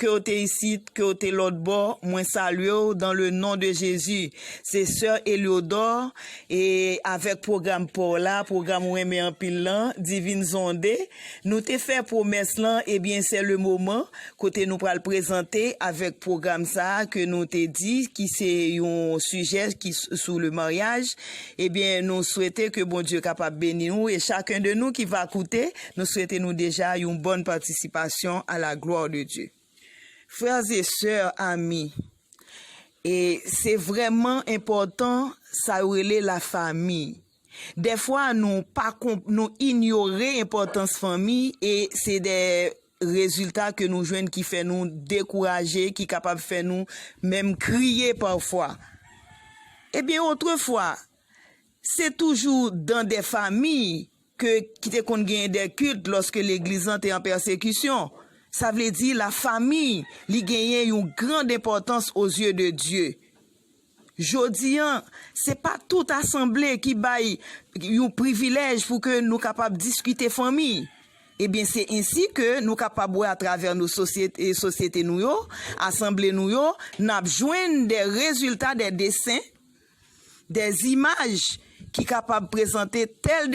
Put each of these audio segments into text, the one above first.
Ke w te isit, ke w te lòtbò, mwen salye w dan le non de Jezi. Se sè Eliodor e avèk pwogram pa w la, pwogram ou renmen anpil lan, Divine Zonde. Nou te fè pwomès lan, ebyen sè le moman kote nou pral prezante avèk pwogram sa a ke nou te di ki se yon sijè ki sou le maryaj. Ebyen nou swete ke Bondye kapab beni ou e chaken de nou ki va koute. Nou swete nou deja yon bòn patisipasyon a la gloire de Dieu. Frères et sœurs amis, e se vrèman enpòtan sa yo rele la famille. Dèfwa nou pa kon, nou inyore enpòtans fanmi e se dè rezilta ke nou jwenn ki fè nou dekouraje, ki kapab fè nou menm kriye pafwa. Ebyen otrefwa, se toujou dan dè famille ke ki te konn genyen dè kilt lòske legliz lan te an pèsekisyon. Sa vle di la famiy li genyen yon grand enpòtans o zye de Dye. Jodi an, se pa tout asanble ki bay yon privilèj pou ke nou kapab diskite fanmiy. E byen se ensi ke nou kapab wè a travè nou sosyete, sosyete nou yo, asanble nou yo, nap jwenn dè rezilta dè desen, de zimaj ki kapab prezante tèl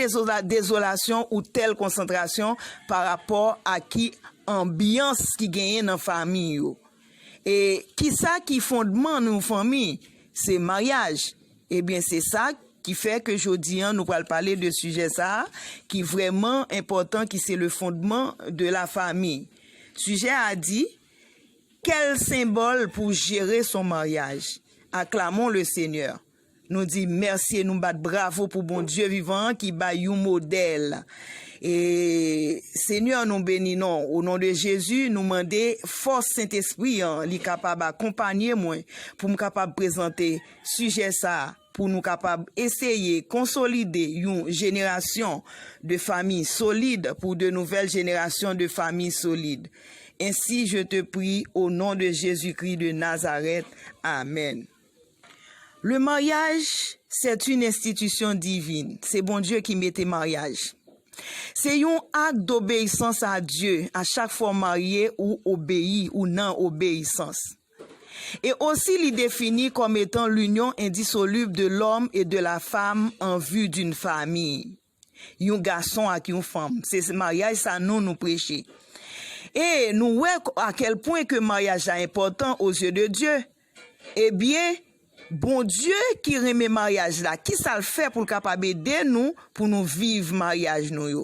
dezolasyon ou tèl konsantrasyon pa rapò a ki anbyans ki genyen nan fami yo. E ki sa ki fondman yon fanmi? Se maryaj. E byen se sa ki fè ke jodi an nou pral pale de sijè sa a ki vrèman enpòtan ki se le fondman de la fami. Sijè a di. Kèl senbòl pou jere son maryaj. Aklamon le Senyè. Nou di mèsye nou bat bravo pou Bondye vivan an ki bay yon modèl. E Senyè nou beni non o non de Jezi nou mande fòs Sentespri an li kapab akonpanye mwen pou m kapab prezante sijè sa. pou nou kapab eseye konsolide yon jenerasyon de fami solid pou de nouvèl jenerasyon de fami solid. Ensi je te pri o non de Jezi Kri de Nazarèt, amèn. Le maryaj c'est une institution divine, se Bondye ki mete maryaj. Se yon ak dobeyisans a Dye a chak fwa w marye ou obeyi ou nan obeyisans. e osi li defini kòm etan l'union indissoluble de l'homme et de la femme en vue d'une famille, yon gason ak yon fanm, se maryaj sa nou nou preche. E nou wè a kèl pwen ke maryaj la enpòtan o zye de Dye. E byen, Bondye ki renmen maryaj la, ki sa l fè pou l kapab ede nou pou nou viv maryaj nou yo?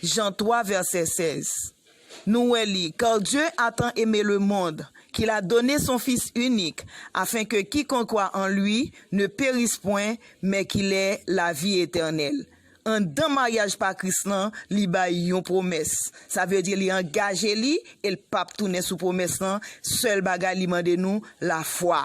Jan 3 vèsè 16 Nou wè li, Kar Dye a tan eme le mond, ke l a done son Fis inik, afen ke kikonk kwa an Li ne peris pwen, men ki l è lavi etènèl. Anndan maryaj pa Kris lan, Li bay yon pwomès. Sa vle di Li angaje Li e L pap tounen sou pwomès lan, sèl bagay Li mande nou, lafwa.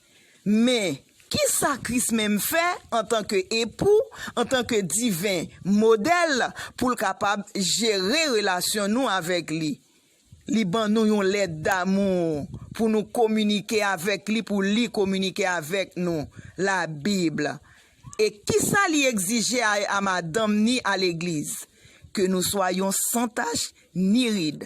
Men, ki sa Kris menm fè antanke Epou, antanke Diven Modèl, pou l kapab jere relasyon nou avèk li? Li ban nou yon lèt damou pou nou kominike avèk li, pou li kominike avèk nou, Labib. E ki sa li egzije a madanm ni a legliz? Ke nou swa yon san tach ni rid.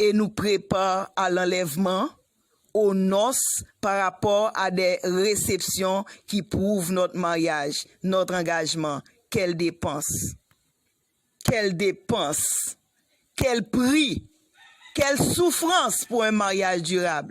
e nou prepa a lanlèvman, o nòs, pa rapò a dè resepsyon ki prouv nòt maryaj, nòt angajman, kèl depans. Kèl depans! Kèl pri! Kèl soufrans pou 1 maryaj dirab!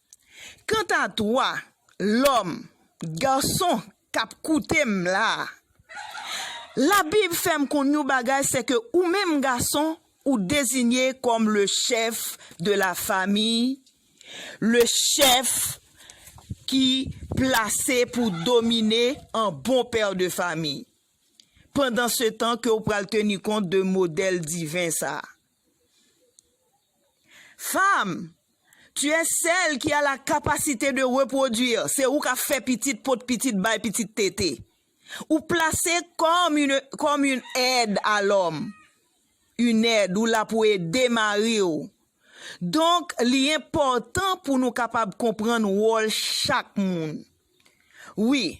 Kanta toi, lòm, garçon, k'ap koute m la a, Labib fè m konn yon bagay, sè ke ou menm gason, ou dezinye kòm le chèf de la fami, le chèf ki plase pou domine an bon père de famille, pandansetan ke ou pral teni kont de modèl diven sa a. Femme, tu es celle qui a la capacité de reproduire, se ou kap fè pitit, pot pitit, bay pitit tete. Ou plase kòm une kòm une aide à l'homme. Une aide, ou la pou ede mari ou. Donk, li enpòtan pou nou kapab konprann wòl chak moun. Wi,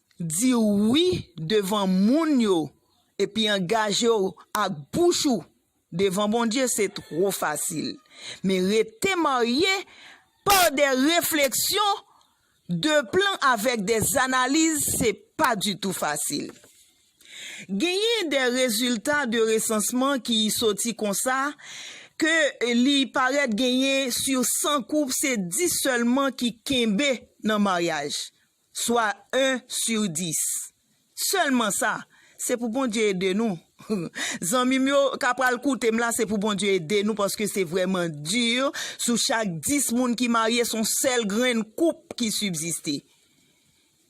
Di wi devan moun yo epi angaje w ak bouch ou devan Bondye se two fasil. Men rete marye pa de refleksyon, de plan avèk de analiz se pa ditou fasil. Genyen de rezilta de resansman ki soti konsa ke li parèt genyen sur 100 koup se 10 sèlman ki kenbe nan maryaj. Swa 1 sur 10. Selman sa. Se pou Bondye ede nou. Zanmim yo ka pral koutem la se pou Bondye ede nou paske se vreman dur sou chak 10 moun ki marye son sel grenn koup ki subsiste.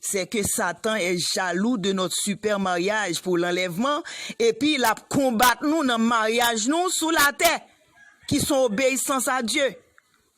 Se ke satan est jaloux de notre super mariage pour l'enlèvement epi lap konbat nou nan mariage nou sou la tè ki son obeissance à Dieu.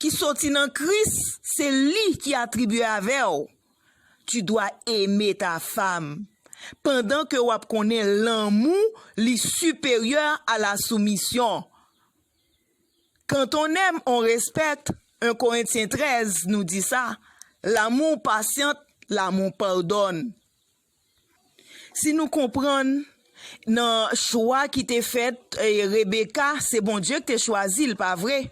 ki soti nan Kris se li ki atribye avè w, Tu dois aimer ta femme, pandan ke wap konnen lanmou li siperyè a la soumisyon. Quand on aime, on respecte, 1 Corinthiens 13 nou di sa, L'amour patiente, l'amour pardonne. Si nou konprann, nan chwa ki te fèt, Rebeka, se Bondye ki te chwazi l, pa vre?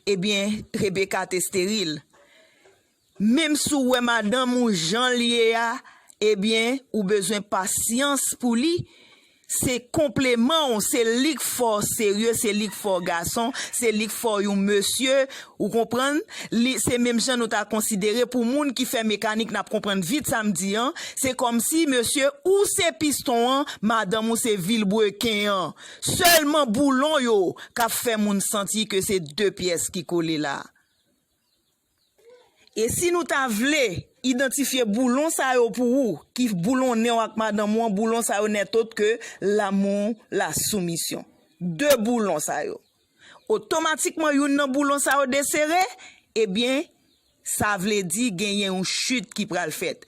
Ebyen, Rebeka te steril. Menm si w wè madanm ou jan l ye a, ebyen, ou bezwen pasyans pou li, Se konpleman w, se lik fè w serye, se lik fè w gason, se lik fè w yon mesye, ou konprann, li se menm jan nou ta konsidere pou moun ki fè mekanik nap konprann vit sa m di an, se kòmsi mesye ou se piston an, madanm ou se vilbreken an, sèlman boulon yo kap fè moun santi ke se 2 pyès ki kole la. E si nou ta vle idantifye boulon sa yo pou ou ki boulonnen w ak madanm ou an, boulon sa yo nètôt ke lanmou, lasoumisyon. De boulon sa yo. Otomatikman youn nan boulon sa yo desere, ebyen sa vle di genyen yon chit ki pral fèt.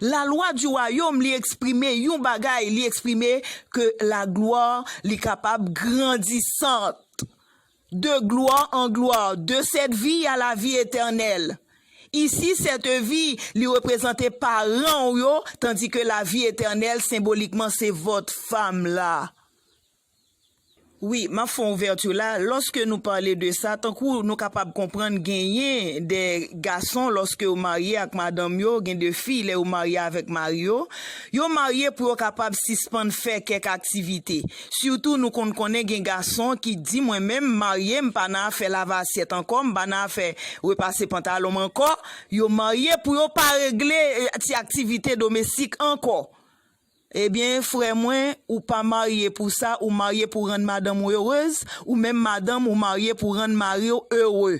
La lwa di wayom li eksprime yon bagay li eksprime ke la glwa li kapab grandisant de glwa an glwa de sèt vi a la vi etènèl isi sèt vi li reprezante paran ou yo tandike la vi etènèl senbolikman se vòt fam la. Wi, m ap fè yon ouvèti la. Lòske nou pale de sa, tankou nou kapab konprann genyen de gason lòske yo marye ak madanm yo, gen de fi lè yo marye avèk mari yo, yo marye pou yo kapab sispann fè kèk aktivite. Sitou nou konn konnen gen gason ki di mwen menm m marye m pa nan afè lave asyèt ankò, m pa nan afè repase pantalon m ankò, yo marye pou yo pa regle ti aktivite domestik ankò. Ebyen frè mwen ou pa marye pou sa ou marye pou rann madanm ou erez ou menm madanm ou marye pou rann mariw ere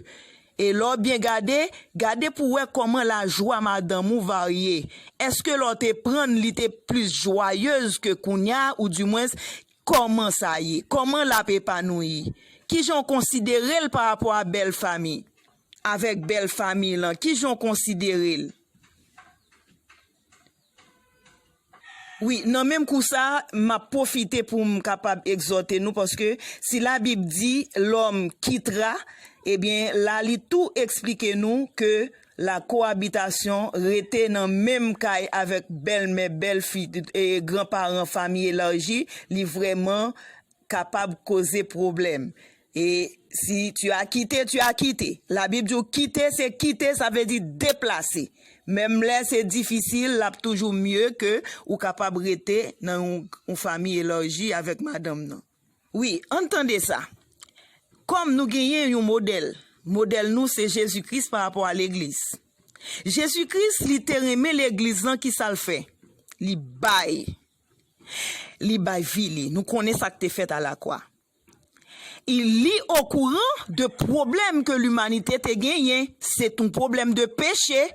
e lè w byen gade gade pou wè kòman lajwa madanm ou varye eske lè w te prann li te plis jwayez ke kounya ou di mwens kòman sa ye kòman lap epanouyi kijan w konsidere l pa rapò a bèl fami avèk bèl fami lan kijan w konsidere l. Wi, nan menm kou sa a, m ap pwofite pou m kapab egzòte nou, paske si Labib di, Lòm kittra, ebyen, la li tou esplike nou ke lakoabitasyon, rete nan menm kay avèk bèlmè, bèlfi, granparan, fanmi elaji, li vrèman kapab koze pwoblèm. E si tu as quitté, tu as quitté. La Bib di ou kite se kite, sa vle di deplase. Menm lè se difisil, l ap toujou mye ke ou kapab rete nan yon, yon fami elarji avèk madanm nan. Wi, ann tande sa. Kòm nou genyen yon modèl, modèl nou se Jezi Kris pa rapò a legliz. Jezi Kris li te renmen legliz lan, ki sa l fè? Li bay. Li bay vi li. Nou konnen sa k te fèt a lakwa. I Li okouran de pwoblèm ke limanite te genyen. Se t on pwoblèm de peche.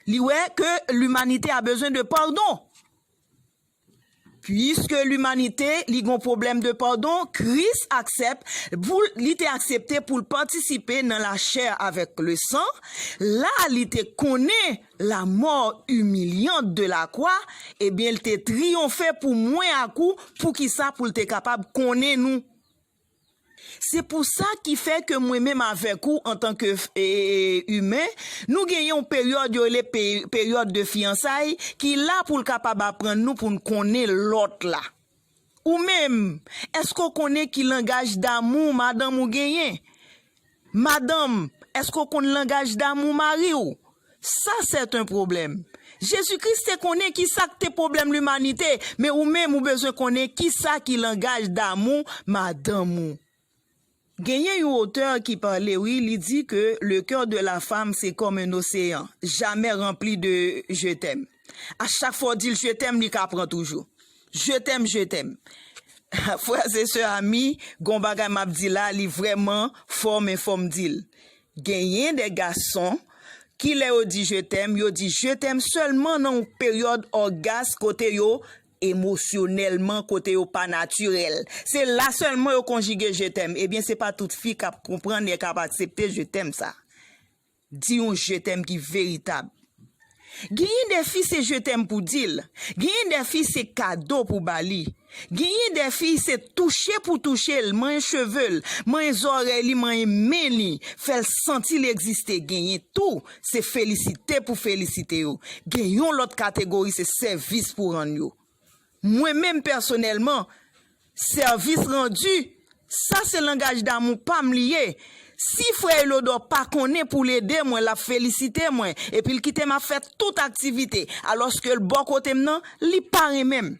Li wè ke limanite a bezwen de padon. Piske limanite li gon pwoblèm de padon, Kris aksèp pou l, li te aksepte pou l patisipe nan lachè avèk lesan. La li te konnen. la mort humiliante de la croix ebyen l te triyonfe pou mwen ak ou poukisa pou l te kapab konnen nou se pou sa ki fè ke mwen menm avèk ou antan ke humain nou gen yon peryòd yo rele peryòd de fiyansay ki la pou l kapab aprann nou pou n konnen lòt la. Ou menm, èske w konnen ki langaj damou madanm ou genyen? Madanm, èske w konn langaj damou mari w? Sa sèten pwoblèm. Jezi Kris te konnen ki sa k te pwoblèm limanite, men ou menm ou bezwen konnen ki sa ki langaj damou madanm ou. Genyen yon otè ki pale wi li di ke le coeur de la femme se kòm un océan jamè ranpli de je t'aime a chak fwa ou dil je t'aime li ka pran toujou je t'aime je t'aime frères et sœurs amis gon bagay map di la li vrèman fò men fòm dil genyen de gason ki lè yo di je t'aime yo di je t'aime sèlman nan yon peryòd orgasme kote yo emosyonèlman kote yo pa natirèl se la sèlman yo konjige je t'aime ebyen se pa tout fi kap konprann e kap aksepte je t'aime sa di yon je t'aime ki veritab genyen de fi se je t'aime pou dil genyen de fi se kado pou ba li genyen de fi se touche pou touche l manyen cheve l manyen zòrèy li manyen men li fèl santi li egziste genyen tou se felisite pou felisite yo. Gen yon lòt kategori se sèvis pou rann yo. Mwen menm pèsonèlman, sèvis randi, sa se langaj damou pa m li ye. Si frè Elodò pa konnen pou l ede mwen l ap felisite mwen epi l kite m ap fè tout aktivite alòske l bò kote m nan, li pa renmen m.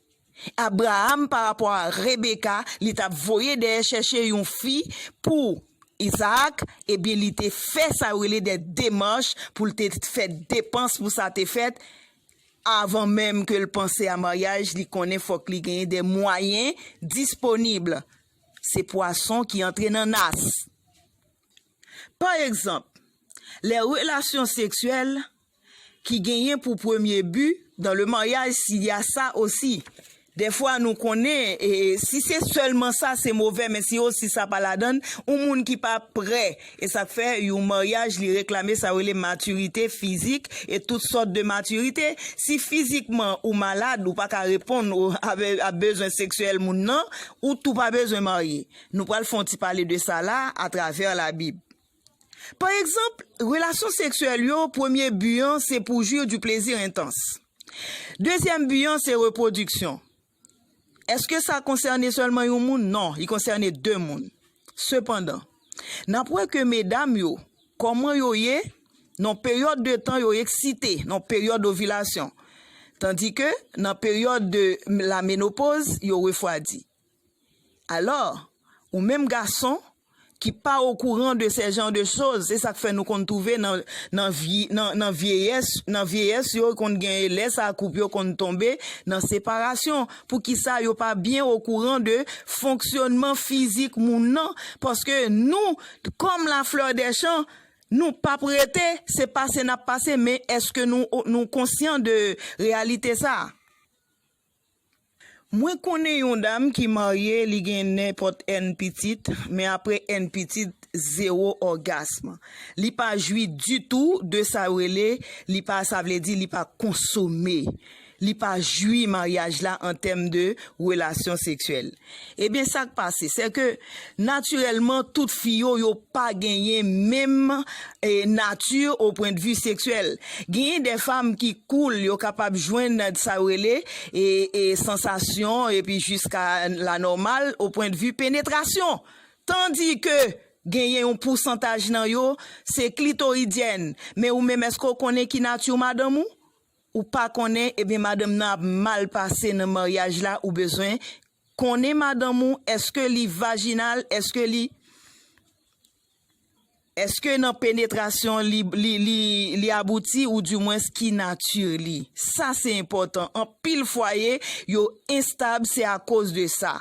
Abraham pa rapò a Rebecca li tap voye dèyè chèche yon fi pou Isaac ebyen li te fè sa yo rele dè demach poul te fè depans pou sa te fèt avan menm kel panse a maryaj li konnen fòk li genyen dè mwayen disponib se pwason ki antre nan nas pa egzanp lè relasyon seksyèl ki genyen pou premye bi dan le maryaj si ya sa osi dèfwa nou konnen e si se sèlman sa se movè men si osi sa pa ladann yon moun ki pa prè e sa k fè yon maryaj li reklame sa yo rele matirite fizik e tout sòt de matirite si fizikman ou malad ou pa ka reponn a bezwen seksyèl moun nan ou tou pa bezwen marye nou pral fè yon ti pale de sa la atravè labib. Pa egzanp, relasyon seksyèl yo, premye bi an se pou jwi du plaisir intense. Dezyèm bi an se repwodiksyon. Èske sa konsène sèlman yon moun? Non, li konsène de moun. Sepandan, n ap wè ke medam yo, kòman yo ye, nan peryòd de tan yo eksite, nan peryòd ovilasyon, tandike nan peryòd de la menopoz, yo refwadi. Alò, ou menm gason, ki pa okouran de sè jan de choz, se sak fè nou konn twouve nan vyeyès yo konn gen lè sa koup yo konn tonbe nan separasyon, pou ki sa yo pa byen okouran de fonksyonman fizik moun nan, paske nou, kòm la fleur des champs, nou pap rete, se pase nap pase, men eske nou konsyan de reyalite sa? Mwen konnen yon dam ki marye li gen nenpòt N pitit men apre N pitit zewo ògasm li pa jwi ditou de sa yo rele li pa sa vle di li pa konsome li pa jwi maryaj la an tèm de relasyon seksyèl. Ebyen sak pase se ke natirèlman tout fi yo yo pa genyen menm nati o pwen de vi seksyèl. Genyen de fam ki koul yo kapab jwenn sa yo rele sansasyon epi jiska la nòmal o pwen de vi penetrasyon. Tandi ke genyen yon pousantaj nan yo se klitoridyèn men ou menm eske w konnen ki nati madanm ou? Ou pa konnen ebyen madanm nan ap mal pase nan maryaj la ou bezwen Konnen madanm ou eske li vajinal eske li eske nan penetrasyon li abouti ou di mwens ki nati li sa se enpòtan anpil fwaye yo enstab se akoz de sa.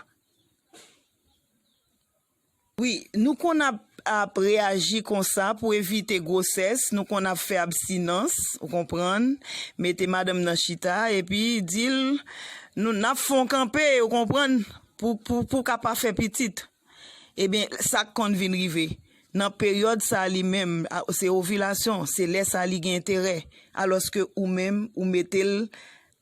Wi, nou konn ap ap reyaji konsa pou evite gwosès, nou konn ap fè abstinans, ou konprann, mete madanm nan chita, epi di l, nou, n ap fè yon kanpe, ou konprann, pou, pou, pou w ka pa fè pitit. Ebyen, sa k konn vin rive, nan peryòd sa a li menm, a, se ovilasyon, se lè sa a li gen enterè, alòske ou menm, ou mete l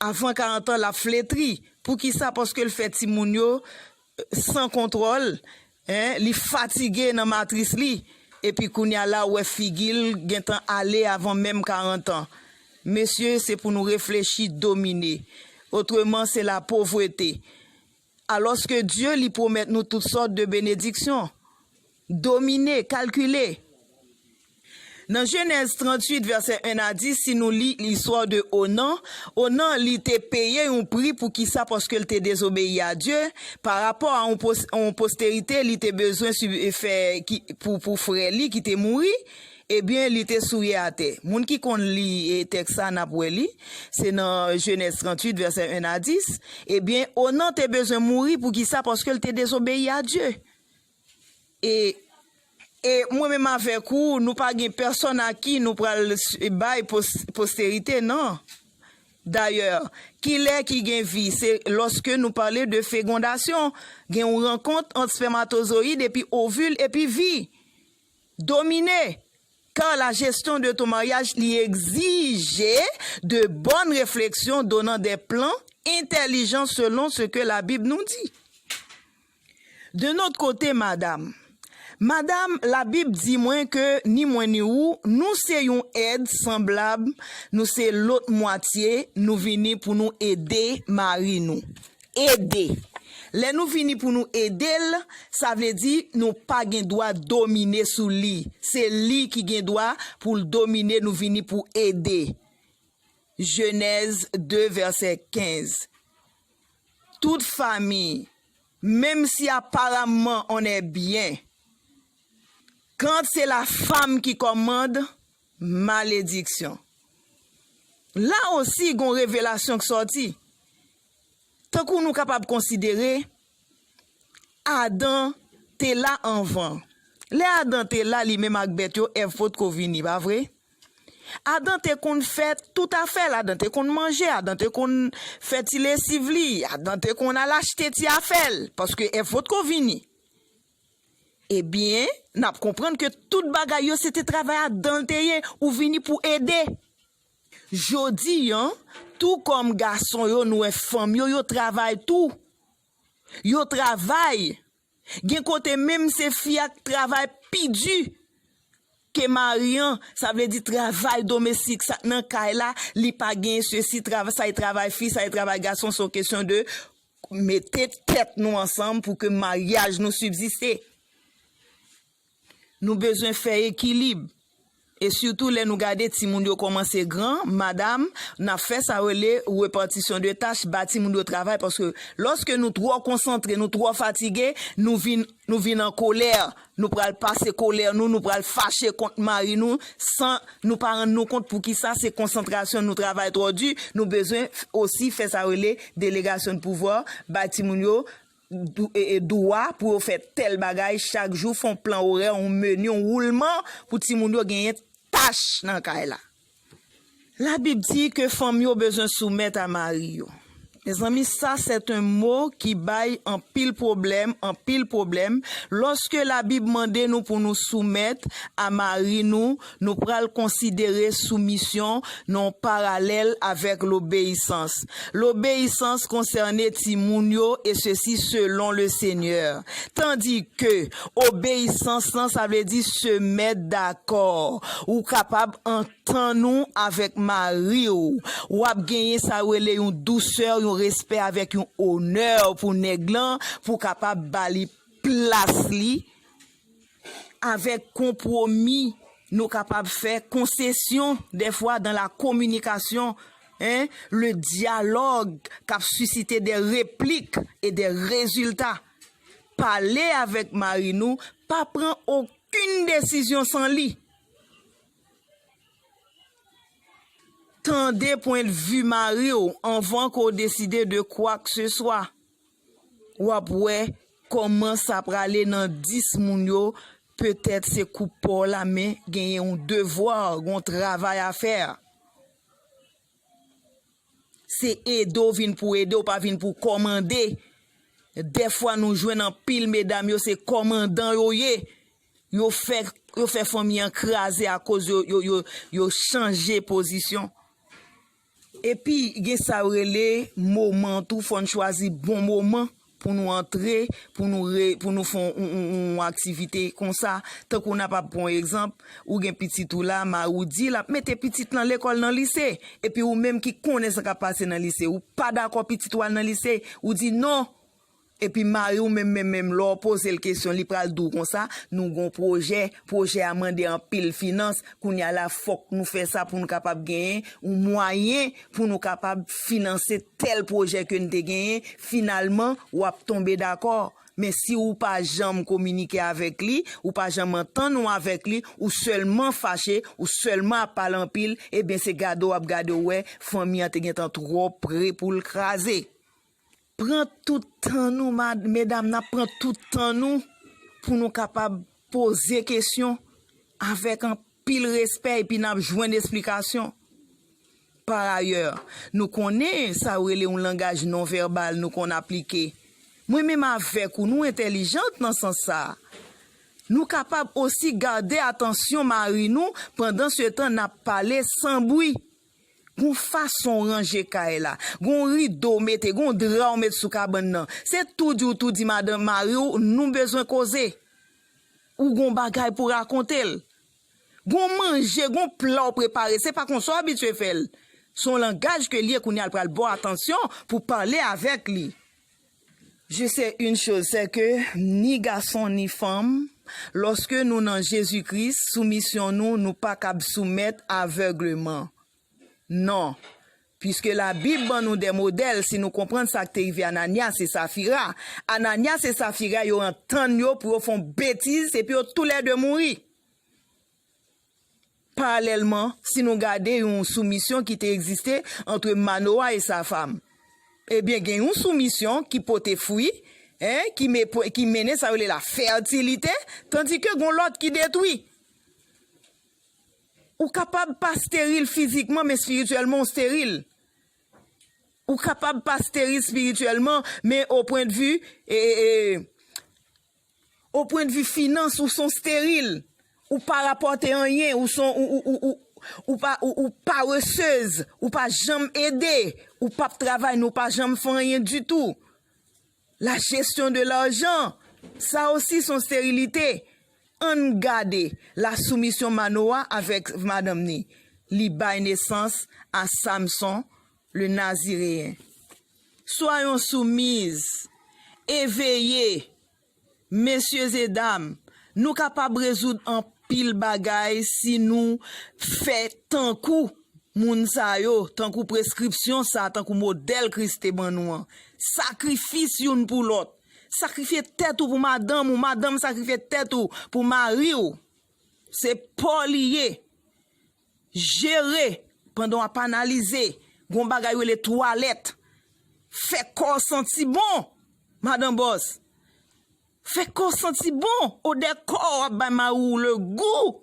Avan 40 ans lap fletri poukisa paske l fè timoun yo San kontrol hein li fatige nan matris li epi kounya la ou wè figil gentan ale avan menm 40 ans mesye se pou nou reflechi domine otreman se la povrete Alòske Dye li pwomèt nou tout sòt de benediksyon. Domine, kalkile. Nan Jenèz 38 vèsè 1 a 10 si nou li listwa de Onan, Onan li te peye yon pri poukisa paske l te dezobeyi a Dye, pa rapò a yon posterite li te bezwen fè pou frè li ki te mouri, Ebyen, li te souye atè. Moun ki konn li tèks sa a, n ap wè li, se nan Jenèz 38, vèsè 1 a 10, Ebyen, Onan te bezwen mouri. Poukisa? Paske l te dezobeyi a Dye. E, e mwen menm avèk ou, nou pa gen pèsonn a ki nou pral bay posterite, nan. Dayè, kilè ki gen vi? Se lòske nou pale de fegondasyon, gen yon rankont ant spèmatozoyid epi ovil epi vi. Domine, car la gestion de ton mariage li exige de bonnes réflexions donnant des plans intelligents selon ce que la Bible nous dit. D'un autre côté, madame, Madame, la Bible di mwen ke ni mwen ni ou, nou se yon èd sanblab, nou se lôt mwatye, nou vini pou nou ede mari nou. Ede. Lè nou vini pou nou ede l, sa vle di nou pa gen dwa domine sou li. Se li ki gen dwa pou l domine nou vini pou ede. Jenèz 2 vèsè 15 Tout fami, menm si aparamman on è byen, kant se la fam ki kòmand, malediksyon. La osi gon revelasyon k sòti. Tankou nou kapab konsidere, Adan te la anvan. Lè Adan te la li menm ak bèt yo, Èv potko vini, pa vre? Adan te konn fè tout afè l, Adan te konn manje, Adan te konn fè ti lesiv li, Adan te konn al achte ti afè l, paske Èv potko vini. Ebyen, n ap konprann ke tout bagay yo se te travay Adan l te ye, ou vini pou ede. Jodi an, tou kòm gason yo n wè fanm yo, yo travay tou. Yo travay, gen kote menm se fi a k travay pi di ke mari an, sa vle di travay domestik sa nan kay la, li pa gen sesi, travay sa e travay fi, sa e travay gason, se yon kesyon de mete tèt nou ansanm pou ke maryaj nou sibsiste. Nou bezwen fè ekilib. E sitou lè nou gade timoun yo kòmanse gran, madam, nan fè sa yo rele repartition de tâche, ba timoun yo travay paske lòske nou twò konsantre, nou twò fatige, nou vin nou vin an kolè, nou pral pase kolè nou, nou pral fache kont mari nou san nou pa rann nou kont poukisa se konsantrasyon nou travay twò di, nou bezwen osi fè sa yo rele délégation de pouvoir, bay timoun yo Dwa pou yo fè tèl bagay chak jou, fè yon plan orè, yon meni, yon woulman pou timoun yo genyen tach nan kay la. Labib di ke fanm yo bezwen soumèt a mari yo. Mezanmi sa c'est un mot ki bay anpil pwoblèm, anpil pwoblèm, lòske Labib mande nou pou nou soumèt a mari nou, Nou pral konsidere soumisyon nan yon paralèl avèk lobeyisans. Lobeyisans konsène timoun yo, e sesi selon le Senyè. Tandi ke, obeyisans lan sa vle di se mèt dakò. Ou kapab antann ou avèk mari w. W ap genyen sa yo rele yon dousè, yon respè avèk yon onè pou nèg lan, pou w kapab ba li plas li. avèk konpwomi nou kapab fè, konsesyon dèfwa dan la kominikasyon e le dyalòg k ap sisite dè replik e dè rezilta. Pale avèk mari nou, pa pran okin desizyon san li. Tande pwendvi mari w anvan ke w deside de kwak se swa. Wap wè Koman sa prale nan 10 moun yo petèt se koup paw la men genyen yon devoir gon travay a fè se ede w vin pou ede w pa vin pou kòmande dèfwa nou jwenn anpil medam yo se kòmandan yo ye yo fè yo fè fanmi an kraze akoz yo yo yo chanje pozisyon Epi gen sa yo rele moman tou fòn chwazi bon moman pou nou antre pou nou re pou nou fon yon aktivite konsa tankou nap ap pran yon egzanp ou gen pitit ou la mari w di lap mete pitit nan lekòl nan lise epi ou menm ki konnen sa kap pase nan lise ou pa dakò pitit ou al nan lise ou di non Epi mari w menm menm menm lè w poze l kesyon li pral di w konsa, nou gen yon pwojè, pwojè a mande anpil finans, kounye a la fòk nou fè sa pou nou kapab genyen yon mwayen pou nou kapab finanse tèl pwojè ke n te genyen, finalman w ap tonbe dakò. Men si w pa janm kominike avèk li, ou pa janm antann w avèk li, ou sèlman fache, ou sèlman ap pale anpil, ebyen se gade w ap gade w wè fanmi an te gentan twò pre pou l kraze. Pran tout tan nou medam nap pran tout tan nou pou nou kapab poze kesyon avèk anpil respè epi nap jwenn esplikasyon. Par ayè, nou konnen sa yo rele yon langaj non vèbal nou konn aplike. Mwen menm avèk ou nou entèlijant nan sans sa. Nou kapab osi gade atansyon mari nou pandan se tan nap pale san bwi. Gon fason w ranje kay la, gon rido w mete, gon dra w met sou kabann nan. Se tou di w tou di madan, mari w, nou bezwen koze. Ou gon bagay pou rakonte l. Gon manje, gon pla w prepare, se pa konsa w abitye fè l. Son langaj ke l ye kounye a l pral ba w atansyon pou pale avèk li. Je se yn choz sè ke ni gason ni fanm loske nou nan Jezi Kris soumisyon nou nou pa kab soumèt avègleman non piske la bib ban nou de modèl si nou konprann sak te rive Ananias e Safira Ananias e Safira yo antann yo pou yo fon betiz epi yo tou lè 2 mouri. Paralèlman, si nou gade yon soumisyon ki te egziste antre Manowa e sa fam, ebyen gen yon soumisyon ki pote fwi, ki mennen sa yo rele la fètilite, tandike gon lòt ki detwi. Ou kapab pa steril fizikman men espirityèlman ou steril. Ou kapab pa steril espirityèlman men o pwendvi O pwen de vi finans ou son steril, ou pa rapòte anyen, ou son ou pa ou paresez, ou pa janm ede, ou pap travay nou pa janm fè anyen ditou. La gestion de l'argent, sa osi son sterilite. Ann gade la soumission Manowa avèk madanm ni, li bay nesans a Samson, Le Naziréen. Swa yon soumiz, eveye! Mesyezedam, nou kapab rezoud anpil bagay si nou fè tankou moun sa yo, tankou preskripsyon sa a, tankou modèl Kris te ban nou an. Sakrifis youn pou lòt. Sakrifye tèt ou pou madanm ou, madanm sakrifye tèt ou pou mari ou. Se pa w li ye. Jere, pandan w ap analize, gen yon bagay yo rele twalèt. Fè kò w santi bon, madan bòs. Fè kò w santi bon, odè kò w ap bay mari w legou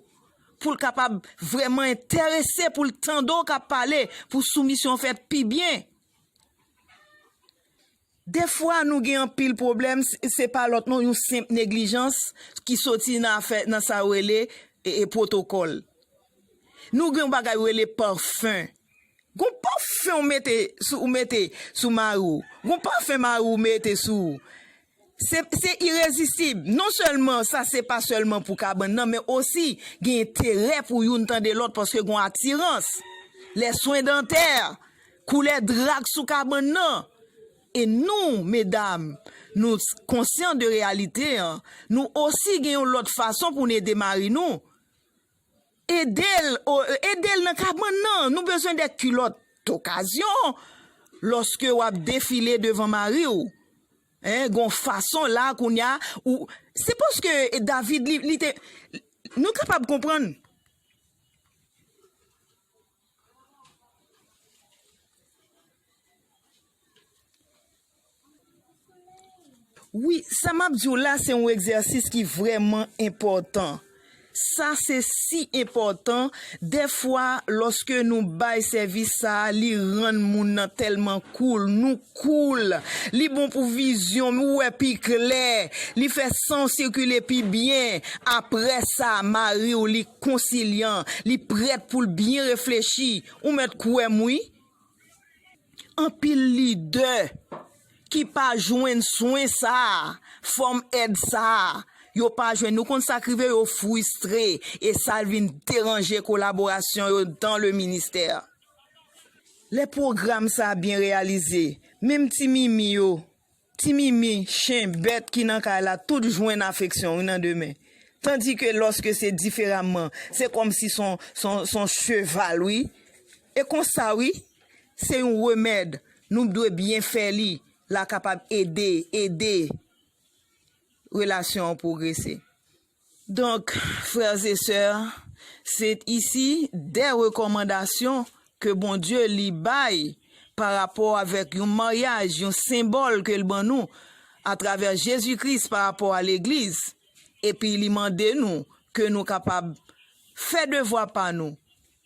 pou l kapab vrèman enterese, pou l tande w k ap pale, pou soumisyon an fèt pi byen. Defwa nou gen anpil pwoblèm se pa lòt non yon senp neglijans ki soti nan afè nan sa yo rele pwotokòl. Nou gen yon bagay yo rele parfum. Gon parfum ou mete sou ou mete sou mari w. Gon parfum mari w mete sou ou. Se se irezisib. Non sèlman sa se pa sèlman pou kabann nan men osi gen enterè pou youn tande lòt paske gon atirans. Lè swen dantè. Koulè dra k sou kabann nan. E nou, medam, nou konsyan de reyalite an, nou osi gen yon lòt fason pou n ede mari nou. Ede l, o, ede l nan kabann nan. Nou bezwen de kilòt dokazyon lòske w ap defile devan mari w. Hein, gen yon fason la kounye a, ou, se paske David li, li te, nou kapab konprann. Wi, sa m ap di w la se yon egzèsis ki vrèman enpòtan. Sa se si enpòtan, dèfwa lòske nou bay sèvis sa a, li rann moun nan tèlman cool, nou Cool. Li bon pou vizyon, m wè pi klè, li fè san w sikile pi byen. Aprè sa, mari w li konsilyan, li prèt pou l byen reflechi. Ou mèt kwè m wi. Anpil lidè ki pa jwenn swen sa a, fòm èd sa a, yo pa jwenn. Ou konn sa k rive, yo fristre e sa vin deranje kolaborasyon yo dan le ministè. Lè pwogram sa a byen reyalize, menm ti mimi yo, ti mimi, chen, bèt ki nan kay la tout jwenn afeksyon wi nan demen. Tandi ke lòske se diferamman, se kòm si s on, s on, s on cheval wi. E konsa wi, se yon remèd, nou p dwe byen fè li, la kapab ede, ede relasyon an pwogrese. Donc, frères et sœurs, c'est ici des recommandations que Bondieu li bay par rapport avec yon mariage, yon symbole ke l ban nou à travers Jésus-Christ par rapport à l'Eglise, epi li mande nou ke nou kapab fè devwa pa nou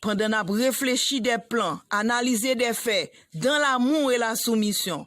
pandan n ap reflechi des plans, analyser des faits dans l'amour et la soumission.